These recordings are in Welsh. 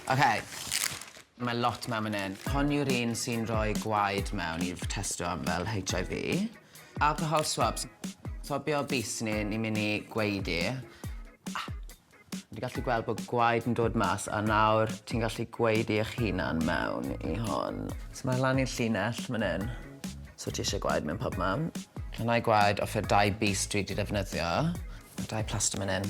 Ok, mae lot mewn fan hyn. Hon yw'r un sy'n rhoi gwaed mewn i testio am fel HIV. Alcohol swabs. Swabio bys ni, ni'n mynd i gwaedu. Fi 'di gallu gweld bod gwaed yn dod mas a nawr ti'n gallu gwaedu eich hunan mewn i hon. So mae lan i'r llinell fan hyn. So ti isie gwaed mewn pob man. Dyna'i gwaed o fe dau bys dwi 'di defnyddio. Mae dau plaster man hyn.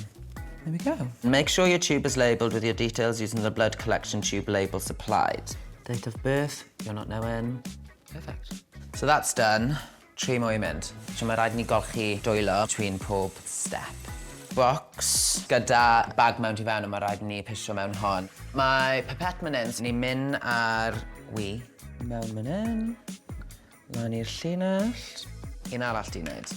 There we go. Make sure your tube is labelled with your details using the blood collection tube label supplied. Date of birth, you're not knowing. Perfect. So that's done. Tri mwy i mynd. So mae rhaid ni golchi dwylo twyn pob step. Box gyda bag mewn ti fewn a mae rhaid ni pisio mewn hon. Mae pipette man hyn, so ni'n mynd ar wi. Mewn man hyn. Lan i'r llinell. Un arall ti'n neud.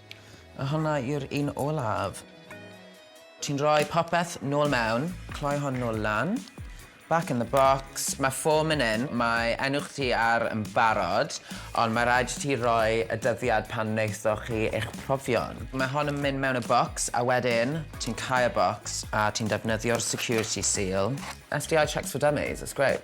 A honna yw'r un olaf. Ti'n rhoi popeth nôl mewn, cloi hon nôl lan, back in the box, mae ffôn man 'yn, mae enw chdi ar yn barod, ond mae rhaid i ti roi y dyddiad pan wnaethoch chi eich profion. Mae hon yn mynd mewn y bocs a wedyn ti'n cau y bocs a ti'n defnyddio'r security seal. STI checks for dummies, it's great.